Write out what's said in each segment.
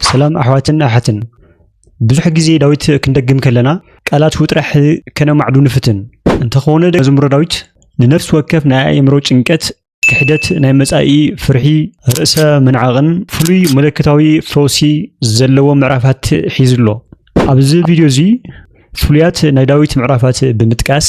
ሰላም ኣሕዋትን ኣሓትን ብዙሕ ግዜ ዳዊት ክንደግም ከለና ቃላቱ ጥራሕ ከነማዕዱ ንፍትን እንተኾነ መዝሙረ ዳዊት ንነፍሲ ወከፍ ናይ ኣእምሮ ጭንቀት ክሕደት ናይ መጻኢ ፍርሒ ርእሰ ምንዓቕን ፍሉይ መለክታዊ ፈውሲ ዘለዎ ምዕራፋት ሒዙ ኣሎ። ኣብዚ ቪድዮ እዚ ፍሉያት ናይ ዳዊት ምዕራፋት ብምጥቃስ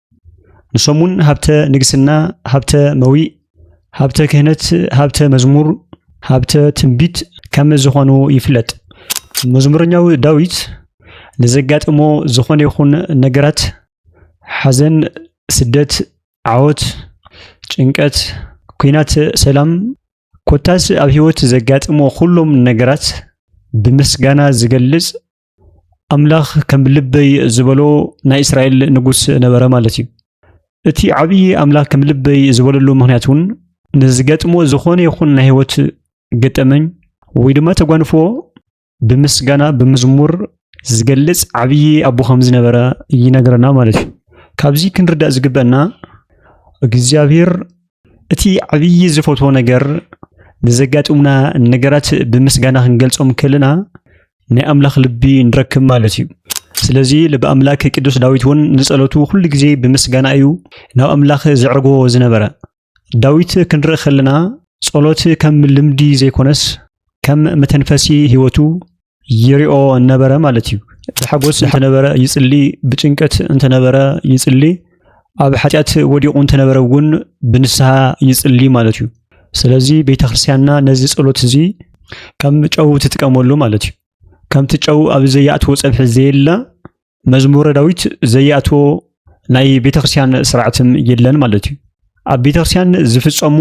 ንሶም እውን ሃብተ ንግስና፣ ሃብተ መዊእ፣ ሃብተ ክህነት፣ ሃብተ መዝሙር፣ ሃብተ ትንቢት ከም ዝኾኑ ይፍለጥ። መዝሙረኛዊ ዳዊት ንዘጋጥሞ ዝኾነ ይኹን ነገራት ሓዘን፣ ስደት፣ ዓወት፣ ጭንቀት፣ ኩናት፣ ሰላም ኮታስ ኣብ ህይወት ዘጋጥሞ ኩሎም ነገራት ብምስጋና ዝገልጽ ኣምላኽ ከም ልበይ ዝበሎ ናይ እስራኤል ንጉስ ነበረ ማለት እዩ። እቲ ዓብዪ ኣምላኽ ከም ልበይ ዝበለሉ ምክንያት እውን ንዝገጥሞ ዝኾነ ይኹን ናይ ህይወት ገጠመኝ ወይ ድማ ተጓንፎ ብምስጋና ብምዝሙር ዝገልፅ ዓብዪ ኣቦ ከም ዝነበረ ይነግረና ማለት እዩ። ካብዚ ክንርዳእ ዝግበአና እግዚኣብሔር እቲ ዓብዪ ዝፈትዎ ነገር ንዘጋጥሙና ነገራት ብምስጋና ክንገልጾም ከለና ናይ ኣምላኽ ልቢ ንረክብ ማለት እዩ። ስለዚ ልቢ ኣምላክ ቅዱስ ዳዊት እውን ንጸሎቱ ኩሉ ግዜ ብምስጋና እዩ ናብ ኣምላኽ ዘዕርጎ ዝነበረ። ዳዊት ክንርኢ ከለና ጸሎት ከም ልምዲ ዘይኮነስ ከም መተንፈሲ ህይወቱ ይሪኦ ነበረ ማለት እዩ ብሓጎስ እንተነበረ ይፅሊ ብጭንቀት እንተነበረ ይፅሊ ኣብ ሓጢኣት ወዲቑ እንተነበረ እውን ብንስሃ ይፅሊ ማለት እዩ ስለዚ ቤተ ክርስትያንና ነዚ ፀሎት እዚ ከም ጨው ትጥቀመሉ ማለት እዩ ከምቲ ጨው ኣብ ዘያእትዎ ፀብሒ ዘየለ መዝሙረ ዳዊት ዘይኣትዎ ናይ ቤተ ክርስቲያን ስርዓትም የለን ማለት እዩ። ኣብ ቤተ ክርስቲያን ዝፍጸሙ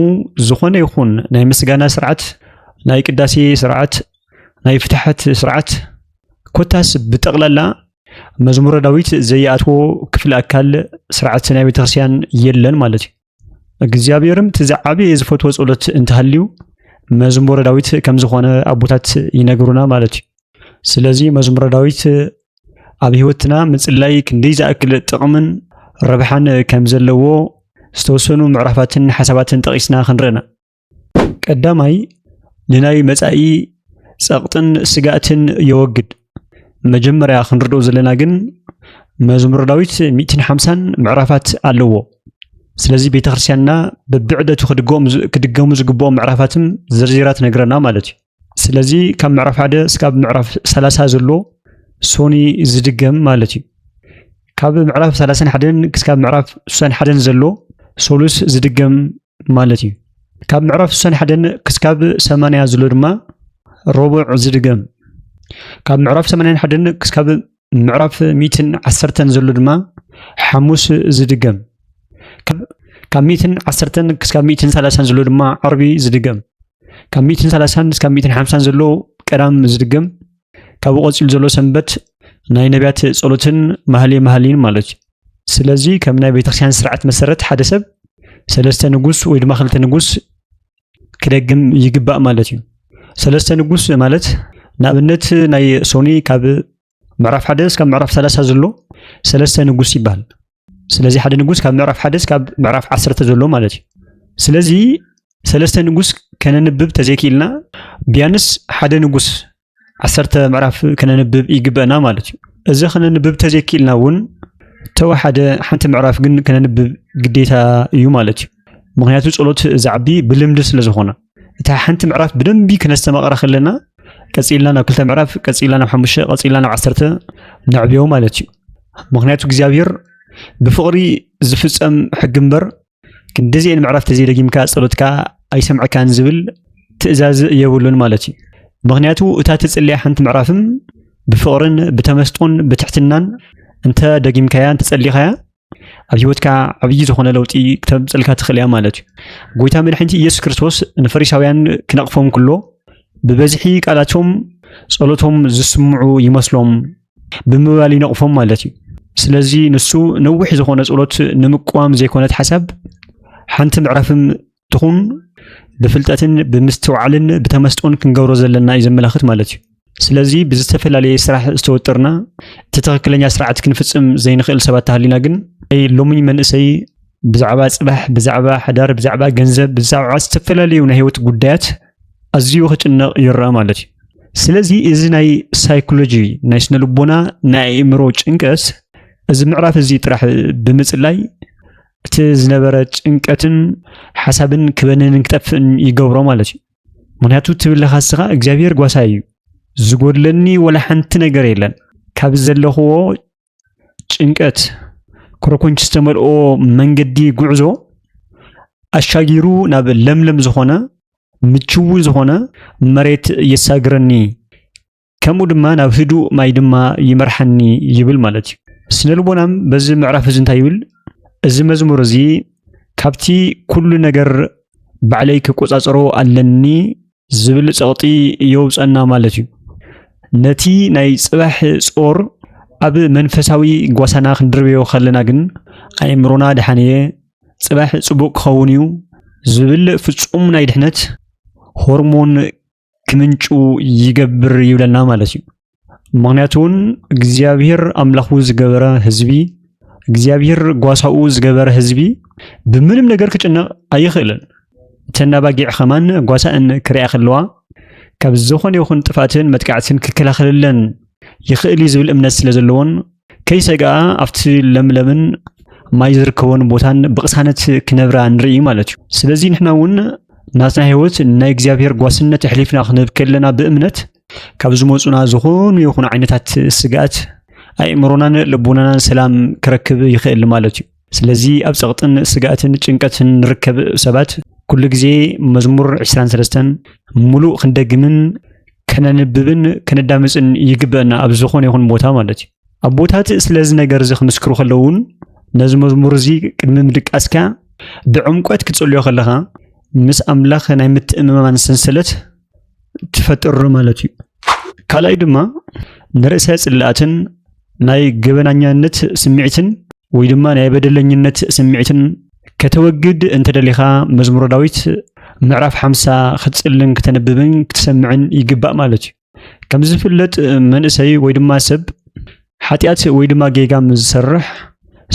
ዝኾነ ይኹን ናይ ምስጋና ስርዓት፣ ናይ ቅዳሴ ስርዓት፣ ናይ ፍትሐት ስርዓት ኮታስ ብጠቕላላ መዝሙረ ዳዊት ዘይኣትዎ ክፍሊ ኣካል ስርዓት ናይ ቤተክርስትያን የለን ማለት እዩ። እግዚኣብሔርም እቲ ዝዓበየ ዝፈትዎ ጸሎት እንተሃልዩ መዝሙረ ዳዊት ከም ዝኾነ ኣቦታት ይነግሩና ማለት እዩ። ስለዚ መዝሙረ ዳዊት ኣብ ህይወትና ምጽላይ ክንደይ ዝኣክል ጥቕምን ረብሓን ከም ዘለዎ ዝተወሰኑ ምዕራፋትን ሓሳባትን ጠቒስና ክንርኢና። ቀዳማይ፣ ንናይ መጻኢ ጸቕጥን ስጋእትን የወግድ። መጀመርያ ክንርድኦ ዘለና ግን መዝሙረ ዳዊት ሚእትን ሓምሳን ምዕራፋት ኣለዎ። ስለዚ ቤተ ክርስቲያንና በብዕለቱ ክድገሙ ዝግብኦም ምዕራፋትም ዝርዚራ ትነግረና ማለት እዩ። ስለዚ ካብ ምዕራፍ ሓደ እስካብ ምዕራፍ ሰላሳ ዘሎ ሶኒ ዝድገም ማለት እዩ ካብ ምዕራፍ ሰላሳን ሓደን ክስካብ ምዕራፍ ሱሳን ሓደን ዘሎ ሶሉስ ዝድገም ማለት እዩ። ካብ ምዕራፍ ስሳን ሓደን ክስካብ ሰማንያ ዝሎ ድማ ሮቡዕ ዝድገም ካብ ምዕራፍ ሰማንያን ሓደን ክስካብ ምዕራፍ ሚትን ዓሰርተን ዘሎ ድማ ሓሙስ ዝድገም ካብ ሚትን ዓሰርተን ክስካብ ሚትን ሰላሳን ዘሎ ድማ ዓርቢ ዝድገም ካብ ሚትን ሰላሳን ክስካብ ሚትን ሓምሳን ዘሎ ቀዳም ዝድገም ካብኡ ቀፂሉ ዘሎ ሰንበት ናይ ነቢያት ጸሎትን ማህሌ ማህሊን ማለት እዩ። ስለዚ ከም ናይ ቤተክርስቲያን ስርዓት መሰረት ሓደ ሰብ ሰለስተ ንጉስ ወይ ድማ ክልተ ንጉስ ክደግም ይግባእ ማለት እዩ። ሰለስተ ንጉስ ማለት ንኣብነት ናይ ሶኒ ካብ ምዕራፍ ሓደ እስካብ ምዕራፍ ሰላሳ ዘሎ ሰለስተ ንጉስ ይበሃል። ስለዚ ሓደ ንጉስ ካብ ምዕራፍ ሓደ እስካብ ምዕራፍ ዓሰርተ ዘሎ ማለት እዩ። ስለዚ ሰለስተ ንጉስ ከነንብብ ተዘይክኢልና ቢያንስ ሓደ ንጉስ ዓሰርተ ምዕራፍ ክነንብብ ይግበአና ማለት እዩ እዚ ክነንብብ ተዘይክኢልና እውን ተወሓደ ሓንቲ ምዕራፍ ግን ክነንብብ ግዴታ እዩ ማለት እዩ ምክንያቱ ፀሎት ዛዕቢ ብልምዲ ስለ ዝኾነ እታ ሓንቲ ምዕራፍ ብደንቢ ክነስተማቕራ ከለና ቀፂልና ናብ ክልተ ምዕራፍ ቀፂልና ናብ ሓሙሽተ ቀፂልና ናብ ዓሰርተ ነዕብዮ ማለት እዩ ምክንያቱ እግዚኣብሔር ብፍቕሪ ዝፍፀም ሕጊ እምበር ክንድዚኤን ምዕራፍቲ እዚ ደጊምካ ጸሎትካ ኣይሰምዕካን ዝብል ትእዛዝ የብሉን ማለት እዩ ምክንያቱ እታ ትጽልያ ሓንቲ ምዕራፍም ብፍቕርን ብተመስጦን ብትሕትናን እንተ ደጊምካያ እንተጸሊኻያ ኣብ ሂወትካ ዓብዪ ዝኾነ ለውጢ ክተምፅልካ ትኽእል እያ ማለት እዩ ጎይታ መድሕንቲ ኢየሱስ ክርስቶስ ንፈሪሳውያን ክነቕፎም ክሎ ብበዝሒ ቃላቶም ጸሎቶም ዝስምዑ ይመስሎም ብምባል ይነቕፎም ማለት እዩ። ስለዚ ንሱ ነዊሕ ዝኾነ ጸሎት ንምቅዋም ዘይኮነት ሓሳብ ሓንቲ ምዕራፍም ትኹን ብፍልጠትን ብምስትውዓልን ብተመስጦን ክንገብሮ ዘለና እዩ ዘመላኽት ማለት እዩ። ስለዚ ብዝተፈላለየ ስራሕ ዝተወጠርና እቲ ትኽክለኛ ስርዓት ክንፍጽም ዘይንኽእል ሰባት ተሃሊና ግን ይ ሎሚ መንእሰይ ብዛዕባ ጽባሕ፣ ብዛዕባ ሓዳር፣ ብዛዕባ ገንዘብ፣ ብዛዕባ ዝተፈላለዩ ናይ ህይወት ጉዳያት ኣዝዩ ክጭነቕ ይረኣ ማለት እዩ። ስለዚ እዚ ናይ ሳይኮሎጂ ናይ ስነ ልቦና ናይ ኣእምሮ ጭንቀት እዚ ምዕራፍ እዚ ጥራሕ ብምጽላይ እቲ ዝነበረ ጭንቀትን ሓሳብን ክበነንን ክጠፍእን ይገብሮ ማለት እዩ ምክንያቱ ትብለካ ስኻ እግዚኣብሄር ጓሳ እዩ ዝጎድለኒ ወላ ሓንቲ ነገር የለን ካብ ዘለኽዎ ጭንቀት ኮረኮንች ዝተመልኦ መንገዲ ጉዕዞ ኣሻጊሩ ናብ ለምለም ዝኾነ ምችው ዝኾነ መሬት የሳግረኒ ከምኡ ድማ ናብ ህዱእ ማይ ድማ ይመርሓኒ ይብል ማለት እዩ። ስነ ልቦናም በዚ ምዕራፍ እዚ እንታይ ይብል? እዚ መዝሙር እዚ ካብቲ ኩሉ ነገር ባዕለይ ክቆፃፀሮ ኣለኒ ዝብል ጸቕጢ የውጸና ማለት እዩ። ነቲ ናይ ጽባሕ ጾር ኣብ መንፈሳዊ ጓሳና ክንድርበዮ ከለና ግን ኣእምሮና ደሓንየ፣ ጽባሕ ጽቡቕ ክኸውን እዩ ዝብል ፍጹም ናይ ድሕነት ሆርሞን ክምንጩ ይገብር ይብለና ማለት እዩ። ምክንያቱ እውን እግዚኣብሄር ኣምላኹ ዝገበረ ህዝቢ እግዚኣብሄር ጓሳኡ ዝገበረ ህዝቢ ብምንም ነገር ክጭነቕ ኣይኽእልን። እተን ኣባጊዕ ከማን ጓሳእን ክሪኣ ከለዋ ካብ ዝኾነ ይኹን ጥፍኣትን መጥቃዕትን ክከላኸለለን ይኽእል እዩ ዝብል እምነት ስለ ዘለዎን ከይሰግኣ ኣብቲ ለምለምን ማይ ዝርከቦን ቦታን ብቕሳነት ክነብራ ንርኢ ማለት እዩ ስለዚ ንሕና እውን ናትና ህይወት ናይ እግዚኣብሄር ጓስነት ኣሕሊፍና ክንህብ ከለና ብእምነት ካብ ዝመፁና ዝኾኑ ይኹን ዓይነታት ስግኣት ኣእምሮናን ልቡናናን ሰላም ክረክብ ይኽእል ማለት እዩ። ስለዚ ኣብ ጸቕጥን ስግኣትን ጭንቀትን ንርከብ ሰባት ኩሉ ግዜ መዝሙር 23 ሙሉእ ክንደግምን ከነንብብን ከነዳምፅን ይግበአና ኣብ ዝኾነ ይኹን ቦታ ማለት እዩ። ኣቦታት ስለዚ ነገር እዚ ክምስክሩ ከለውን ነዚ መዝሙር እዚ ቅድሚ ምድቃስካ ብዕምቆት ክትጽልዮ ከለኻ ምስ ኣምላኽ ናይ ምትእምማን ሰንሰለት ትፈጥር ማለት እዩ። ካልኣይ ድማ ንርእሰ ጽላኣትን ናይ ገበናኛነት ስምዒትን ወይ ድማ ናይ በደለኝነት ስምዒትን ከተወግድ እንተደሊኻ መዝሙረ ዳዊት ምዕራፍ ሓምሳ ክትጽልን ክተንብብን ክትሰምዕን ይግባእ ማለት እዩ። ከም ዝፍለጥ መንእሰይ ወይ ድማ ሰብ ሓጢኣት ወይ ድማ ጌጋ ምስ ዝሰርሕ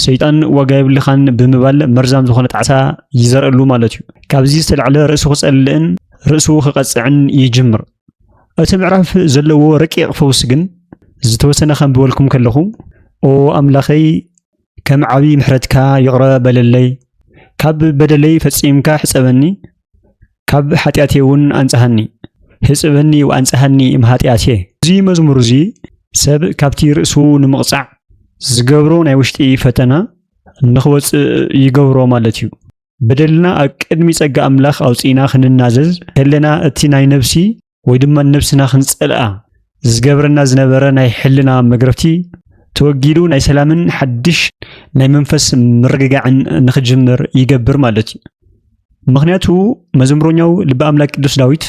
ሰይጣን ዋጋ የብልኻን ብምባል መርዛም ዝኾነ ጣዕሳ ይዘርኣሉ ማለት እዩ። ካብዚ ዝተላዕለ ርእሱ ክጸልእን ርእሱ ክቐጽዕን ይጅምር። እቲ ምዕራፍ ዘለዎ ረቂቕ ፈውሲ ግን ዝተወሰነ ከንብበልኩም ከለኹ ኦ ኣምላኸይ ከም ዓብዪ ምሕረትካ ይቕረ በለለይ ካብ በደለይ ፈጺምካ ሕጸበኒ ካብ ሓጢኣቴ እውን ኣንጽሃኒ። ህጽበኒ ወኣንጽሃኒ እም ኃጢኣቴ። እዚ መዝሙር እዚ ሰብ ካብቲ ርእሱ ንምቕጻዕ ዝገብሮ ናይ ውሽጢ ፈተና ንኽወጽእ ይገብሮ ማለት እዩ። በደልና ኣብ ቅድሚ ጸጋ ኣምላኽ ኣውጺእና ክንናዘዝ ከለና እቲ ናይ ነብሲ ወይ ድማ ነብስና ክንጸልኣ ዝገብረና ዝነበረ ናይ ሕልና መግረፍቲ ተወጊዱ ናይ ሰላምን ሓድሽ ናይ መንፈስ ምርግጋዕን ንክጅምር ይገብር ማለት እዩ። ምክንያቱ መዘምሮኛው ልቢ ኣምላክ ቅዱስ ዳዊት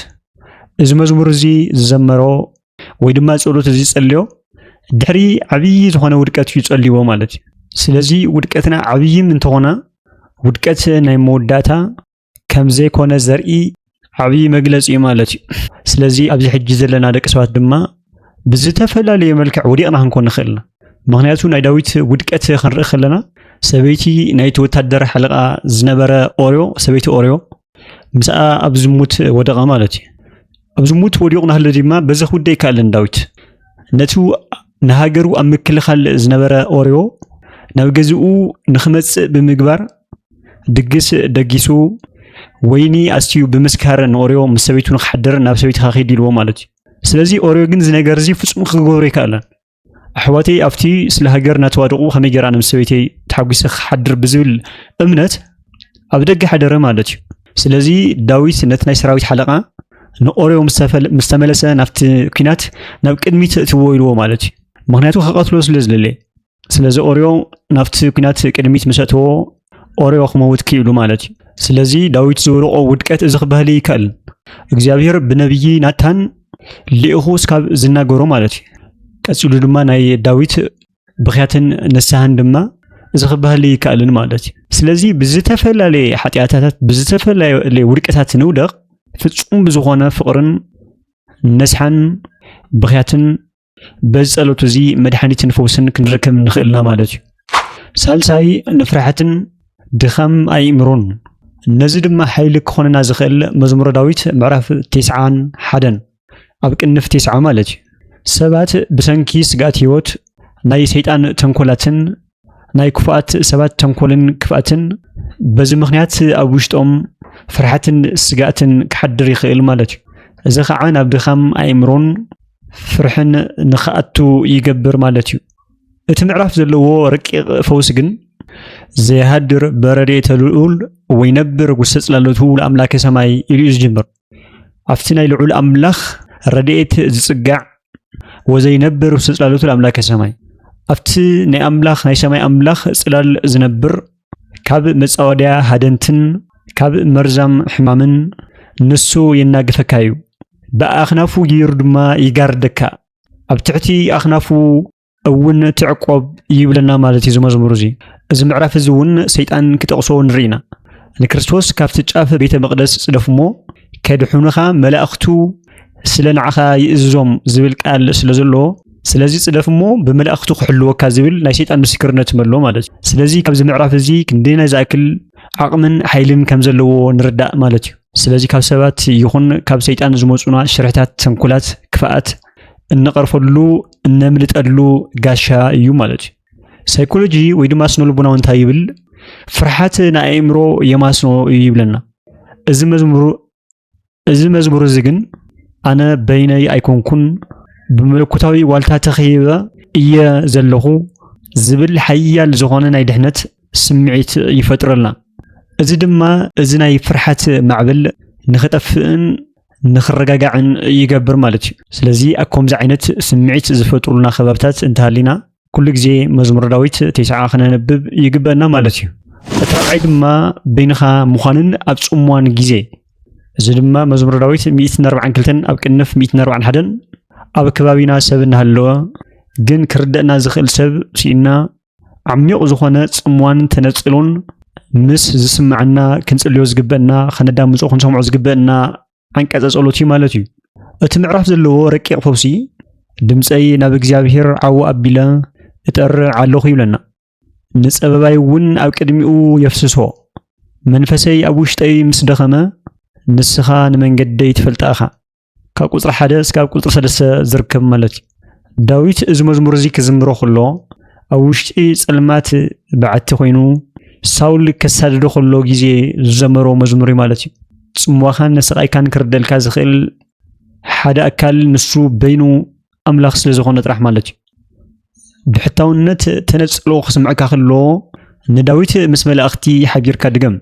እዚ መዝሙር እዚ ዝዘመሮ ወይ ድማ ጸሎት እዚ ጸልዮ ድሕሪ ዓብዪ ዝኾነ ውድቀት እዩ ጸልይዎ ማለት እዩ። ስለዚ ውድቀትና ዓብይም እንተኾነ ውድቀት ናይ መወዳእታ ከም ዘይኮነ ዘርኢ ዓብዪ መግለፂ እዩ ማለት እዩ። ስለዚ ኣብዚ ሕጂ ዘለና ደቂ ሰባት ድማ ብዝተፈላለየ መልክዕ ወዲቕና ክንኮን ንኽእል ኢና። ምክንያቱ ናይ ዳዊት ውድቀት ክንርኢ ከለና ሰበይቲ ናይቲ ወታደር ሓለቓ ዝነበረ ኦርዮ ሰበይቲ ኦርዮ ምስኣ ኣብ ዝሙት ወደቐ ማለት እዩ። ኣብ ዝሙት ወዲቑ ናህሉ ድማ በዚ ክውደ ኣይከኣለን ዳዊት ነቲ ንሃገሩ ኣብ ምክልኻል ዝነበረ ኦርዮ ናብ ገዝኡ ንክመፅእ ብምግባር ድግስ ደጊሱ ወይኒ ኣስትዩ ብምስካር ንኦርዮ ምስ ሰበይቱ ንክሓድር ናብ ሰበይትካ ከይድ ኢልዎ ማለት እዩ ስለዚ ኦርዮ ግን እዚ ነገር እዚ ፍፁም ክገብሮ ኣይከኣለን ኣሕዋተይ ኣብቲ ስለ ሃገርና ተዋድቑ ከመይ ገይራ ኣነ ምስ ሰበይተይ ተሓጒሰ ክሓድር ብዝብል እምነት ኣብ ደገ ሓደረ ማለት እዩ ስለዚ ዳዊት ነቲ ናይ ሰራዊት ሓለቓ ንኦርዮ ምስ ተመለሰ ናብቲ ኩናት ናብ ቅድሚት እትዎ ኢልዎ ማለት እዩ ምክንያቱ ክቐትሎ ስለ ዝለለ ስለዚ ኦርዮ ናብቲ ኩናት ቅድሚት ምስ እትዎ ኦርዮ ክመውት ክኢሉ ማለት እዩ ስለዚ ዳዊት ዝወደቆ ውድቀት እዚ ክበሃል ይከኣል እግዚኣብሄር ብነብዪ ናታን ልኢኹ እስካብ ዝናገሮ ማለት እዩ ቀፂሉ ድማ ናይ ዳዊት ብክያትን ንስሃን ድማ እዚ ክበሃል ይከኣልን ማለት እዩ ስለዚ ብዝተፈላለየ ሓጢኣታታት ብዝተፈላለየ ውድቀታት ንውደቕ ፍፁም ብዝኾነ ፍቕርን ነስሓን ብክያትን በዚ ጸሎት እዚ መድሓኒትን ፈውስን ክንረከብ ንኽእልና ማለት እዩ። ሳልሳይ ንፍርሓትን ድኻም ኣይእምሮን ነዚ ድማ ሓይሊ ክኾነና ዝኽእል መዝሙረ ዳዊት ምዕራፍ ቴስዓን ሓደን ኣብ ቅንፍ ቴስዓ ማለት እዩ። ሰባት ብሰንኪ ስግኣት ህይወት ናይ ሰይጣን ተንኮላትን ናይ ክፉኣት ሰባት ተንኮልን ክፍኣትን በዚ ምኽንያት ኣብ ውሽጦም ፍርሓትን ስጋእትን ክሓድር ይኽእል ማለት እዩ። እዚ ከዓ ናብ ድኻም ኣእምሮን ፍርሕን ንክኣቱ ይገብር ማለት እዩ። እቲ ምዕራፍ ዘለዎ ረቂቕ ፈውሲ ግን ዘየሃድር በረድኤተ ልዑል ወይነብር ውስተ ጽላሎቱ ለኣምላከ ሰማይ ኢሉ እዩ ዝጅምር። ኣብቲ ናይ ልዑል ኣምላኽ ረድኤት ዝጽጋዕ ወዘይነብር ውስተ ጽላሎቱ ለኣምላከ ሰማይ ኣብቲ ናይ ኣምላኽ ናይ ሰማይ ኣምላኽ ጽላል ዝነብር ካብ መጻወድያ ሃደንትን ካብ መርዛም ሕማምን ንሱ የናግፈካ እዩ። ብኣኽናፉ ገይሩ ድማ ይጋርደካ። ኣብ ትሕቲ ኣኽናፉ እውን ትዕቆብ ይብለና ማለት እዩ ዝመዝሙር እዚ እዚ ምዕራፍ እዚ እውን ሰይጣን ክጠቕሶ ንርኢ ኢና ንክርስቶስ ካብቲ ጫፍ ቤተ መቕደስ ጽደፍሞ ከድሑንኻ መላእኽቱ ስለ ንዓኻ ይእዝዞም ዝብል ቃል ስለ ዘሎ ስለዚ ጽደፍሞ ብመላእኽቱ ክሕልወካ ዝብል ናይ ሰይጣን ምስክርነት መሎ ማለት እዩ ስለዚ ካብዚ ምዕራፍ እዚ ክንደና ዝኣክል ዓቕምን ሓይልን ከም ዘለዎ ንርዳእ ማለት እዩ ስለዚ ካብ ሰባት ይኹን ካብ ሰይጣን ዝመፁና ሽርሕታት፣ ተንኮላት፣ ክፍኣት እንቐርፈሉ እነምልጠሉ ጋሻ እዩ ማለት እዩ። ሳይኮሎጂ ወይ ድማ ስነ ልቡናዊ እንታይ ይብል? ፍርሓት ንኣእምሮ የማስኖ እዩ ይብለና። እዚ መዝሙር እዚ መዝሙር እዚ ግን ኣነ በይነይ ኣይኮንኩን ብመለኮታዊ ዋልታ ተኸይበ እየ ዘለኹ ዝብል ሓያል ዝኾነ ናይ ድሕነት ስምዒት ይፈጥረልና። እዚ ድማ እዚ ናይ ፍርሓት ማዕበል ንክጠፍእን ንክረጋጋዕን ይገብር ማለት እዩ። ስለዚ ኣብ ከምዚ ዓይነት ስምዒት ዝፈጥሩልና ከባብታት እንተሃሊና ኩሉ ግዜ መዝሙረ ዳዊት ቴስዓ ክነንብብ ይግበእና ማለት እዩ። እቲ ራብዓይ ድማ በይንኻ ምዃንን ኣብ ጽምዋን ግዜ እዚ ድማ መዝሙረ ዳዊት 142 ኣብ ቅንፍ 141 ኣብ ከባቢና ሰብ እናሃለወ ግን ክርደእና ዝኽእል ሰብ ስኢና ዓሚዩቕ ዝኾነ ጽምዋን ተነጽሎን ምስ ዝስምዐና ክንጽልዮ ዝግበእና ከነዳምጾ ክንሰምዖ ዝግበእና ዓንቀጸ ጸሎት እዩ ማለት እዩ። እቲ ምዕራፍ ዘለዎ ረቂቕ ፈውሲ ድምፀይ ናብ እግዚኣብሔር ዓው ኣቢለ እጠርዕ ኣለኹ ይብለና። ንጸበባይ እውን ኣብ ቅድሚኡ የፍስሶ። መንፈሰይ ኣብ ውሽጠይ ምስ ደኸመ ንስኻ ንመንገደይ ትፈልጣ ኢኻ። ካብ ቁፅሪ ሓደ እስካብ ቁፅሪ ሰለስተ ዝርከብ ማለት እዩ ዳዊት እዚ መዝሙር እዚ ክዝምሮ ከሎ ኣብ ውሽጢ ፀልማት በዓቲ ኮይኑ ሳውል ከሳድዶ ከሎ ግዜ ዝዘመሮ መዝሙር እዩ ማለት እዩ ፅሟኻን ስቃይካን ክርደልካ ዝኽእል ሓደ ኣካል ንሱ በይኑ ኣምላኽ ስለ ዝኾነ ጥራሕ ማለት እዩ ብሕታውነት ተነፅሎ ክስምዕካ ከሎ ንዳዊት ምስ መላእኽቲ ሓቢርካ ድገም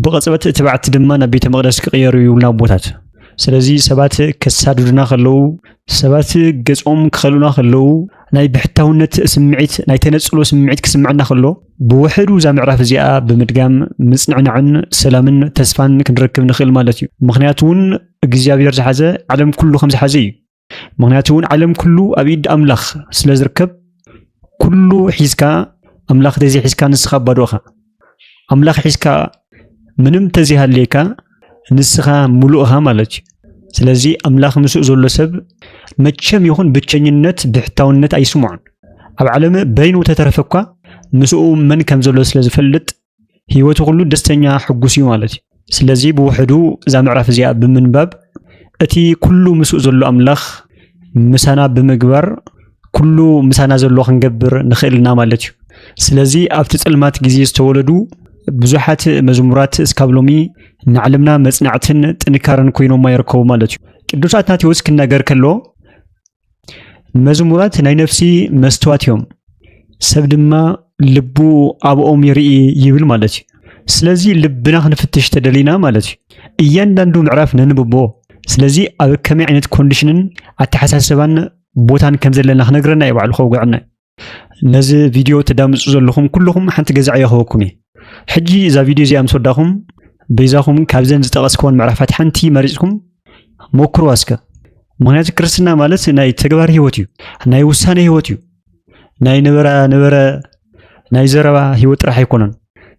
ብቐጽበት እቲ ባዕቲ ድማ ናብ ቤተ መቕደስ ክቕየሩ ይብሉ ኣቦታት። ስለዚ ሰባት ከሳድዱና ከለዉ ሰባት ገጾም ክኸሉና ከለዉ ናይ ብሕታውነት ስምዒት ናይ ተነጽሎ ስምዒት ክስምዐና ከሎ ብውሕዱ እዛ ምዕራፍ እዚኣ ብምድጋም ምጽንዕናዕን ሰላምን ተስፋን ክንረክብ ንኽእል ማለት እዩ ምክንያቱ እውን እግዚኣብሔር ዝሓዘ ዓለም ኩሉ ከም ዝሓዘ እዩ ምክንያቱ እውን ዓለም ኩሉ ኣብ ኢድ ኣምላኽ ስለ ዝርከብ ኩሉ ሒዝካ ኣምላኽ ተዘይሒዝካ ንስኻ ባዶ ኢኻ። ኣምላኽ ሒዝካ ምንም ተዘይሃልየካ ንስኻ ሙሉእ ኢኻ ማለት እዩ። ስለዚ ኣምላኽ ምስኡ ዘሎ ሰብ መቸም ይኹን ብቸኝነት ብሕታውነት ኣይስምዖን። ኣብ ዓለም በይኑ ተተረፈ እኳ ምስኡ መን ከም ዘሎ ስለ ዝፈልጥ ህይወቱ ኩሉ ደስተኛ ሕጉስ እዩ ማለት እዩ ስለዚ ብውሕዱ እዛ ምዕራፍ እዚኣ ብምንባብ እቲ ኩሉ ምስኡ ዘሎ ኣምላኽ ምሳና ብምግባር ኩሉ ምሳና ዘሎ ክንገብር ንኽእልና ማለት እዩ ስለዚ ኣብቲ ፅልማት ግዜ ዝተወለዱ ብዙሓት መዝሙራት እስካብ ሎሚ ንዓለምና መፅናዕትን ጥንካረን ኮይኖማ ይርከቡ ማለት እዩ ቅዱስ ኣትናቴዎስ ክናገር ከሎ መዝሙራት ናይ ነፍሲ መስትዋት እዮም፣ ሰብ ድማ ልቡ ኣብኦም ይርኢ ይብል ማለት እዩ። ስለዚ ልብና ክንፍትሽ ተደሊና ማለት እዩ። እያንዳንዱ ምዕራፍ ነንብቦ። ስለዚ ኣብ ከመይ ዓይነት ኮንዲሽንን ኣተሓሳስባን ቦታን ከም ዘለና ክነግረና እዩ ባዕሉ ከውግዐና እዩ። ነዚ ቪድዮ ተዳምፁ ዘለኹም ኩልኹም ሓንቲ ገዛ ዕዮ ክህበኩም እዩ ሕጂ እዛ ቪድዮ እዚኣ ምስ ወዳኹም በይዛኹም ካብዘን ዝጠቐስከወን ምዕራፋት ሓንቲ መሪፅኩም ሞክሩዋ እስከ ምክንያቱ ክርስትና ማለት ናይ ተግባር ህይወት እዩ ናይ ውሳነ ህይወት እዩ ናይ ነበረ ነበረ ናይ ዘረባ ህይወት ጥራሕ ኣይኮነን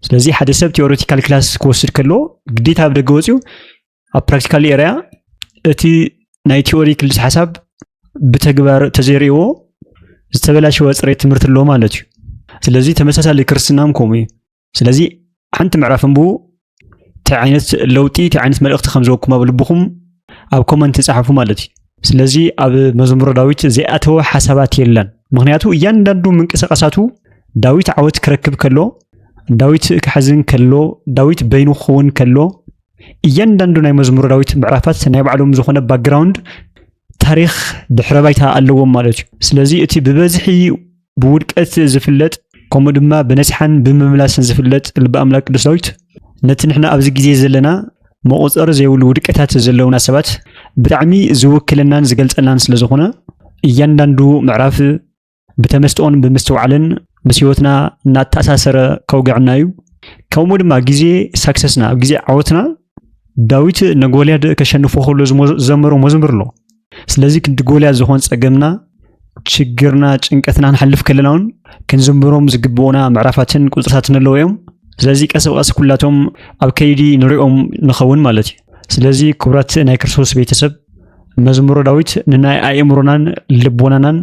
ስለዚ ሓደ ሰብ ቴዎሬቲካል ክላስ ክወስድ ከለዎ ግዴታ ኣብ ደገ ወፅኡ ኣብ ፕራክቲካል ኤርያ እቲ ናይ ቲዎሪ ክልስ ሓሳብ ብተግባር ተዘይርእዎ ዝተበላሸወ ፅሬት ትምህርቲ ኣለዎ ማለት እዩ ስለዚ ተመሳሳሊ ክርስትናም ከምኡ እዩ ስለዚ ሓንቲ ምዕራፍ እንብኡ እንታይ ዓይነት ለውጢ እንታይ ዓይነት መልእኽቲ ከም ዝወኩም ኣብ ልብኹም ኣብ ኮመንት ፃሓፉ ማለት እዩ ስለዚ ኣብ መዝሙረ ዳዊት ዘይኣተወ ሓሳባት የለን ምክንያቱ እያንዳንዱ ምንቅስቃሳቱ ዳዊት ዓወት ክረክብ ከሎ ዳዊት ክሓዝን ከሎ ዳዊት በይኑ ክኸውን ከሎ እያንዳንዱ ናይ መዝሙረ ዳዊት ምዕራፋት ናይ ባዕሎም ዝኾነ ባክግራውንድ ታሪኽ ድሕረ ባይታ ኣለዎም ማለት እዩ። ስለዚ እቲ ብበዝሒ ብውድቀት ዝፍለጥ ከምኡ ድማ ብነስሓን ብምምላስን ዝፍለጥ ልቢ ኣምላክ ቅዱስ ዳዊት ነቲ ንሕና ኣብዚ ግዜ ዘለና መቑፀሪ ዘይብሉ ውድቀታት ዘለውና ሰባት ብጣዕሚ ዝውክለናን ዝገልፀልናን ስለ ዝኾነ እያንዳንዱ ምዕራፍ ብተመስጦን ብምስትውዓልን ምስ ህይወትና እናተኣሳሰረ ከውግዐና እዩ ከምኡ ድማ ግዜ ሳክሰስና ግዜ ዓወትና ዳዊት ንጎልያድ ከሸንፎ ከሎ ዘመሮ መዝሙር ኣሎ ስለዚ ክንዲ ጎልያድ ዝኾን ፀገምና ችግርና ጭንቀትና ንሓልፍ ከለና እውን ክንዝምሮም ዝግብኡና ምዕራፋትን ቁፅርታትን ኣለዎ እዮም ስለዚ ቀስ ብቀስ ኩላቶም ኣብ ከይዲ ንሪኦም ንኸውን ማለት እዩ ስለዚ ክብራት ናይ ክርስቶስ ቤተሰብ መዝሙረ ዳዊት ንናይ ኣእምሮናን ልቦናናን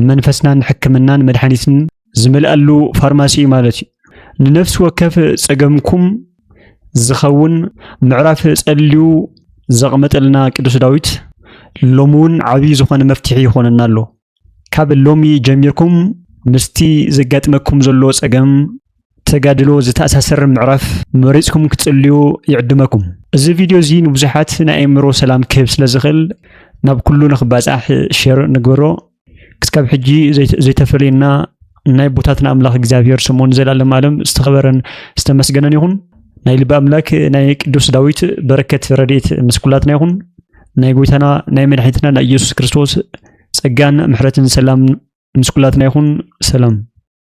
መንፈስናን ሕክምናን መድሓኒትን ዝመልኣሉ ፋርማሲ እዩ ማለት እዩ። ንነፍሲ ወከፍ ጸገምኩም ዝኸውን ምዕራፍ ጸልዩ ዘቕመጠልና ቅዱስ ዳዊት ሎሚ እውን ዓብዪ ዝኾነ መፍትሒ ይኾነና ኣሎ። ካብ ሎሚ ጀሚርኩም ምስቲ ዘጋጥመኩም ዘሎ ጸገም ተጋድሎ ዝተኣሳሰር ምዕራፍ መሪጽኩም ክትጽልዩ ይዕድመኩም። እዚ ቪድዮ እዚ ንብዙሓት ናይ ኣእምሮ ሰላም ክህብ ስለ ዝኽእል ናብ ኩሉ ንኽባጻሕ ሼር ንግበሮ። ክስካብ ሕጂ ዘይተፈለየና ናይ ቦታትና ኣምላኽ እግዚኣብሔር ስሙ ንዘላለም ኣለም ዝተኸበረን ዝተመስገነን ይኹን። ናይ ልቢ ኣምላክ ናይ ቅዱስ ዳዊት በረከት ረድኤት ምስ ኩላትና ይኹን። ናይ ጎይታና ናይ መድሓኒትና ናይ ኢየሱስ ክርስቶስ ጸጋን ምሕረትን ሰላምን ምስ ኩላትና ይኹን ሰላም።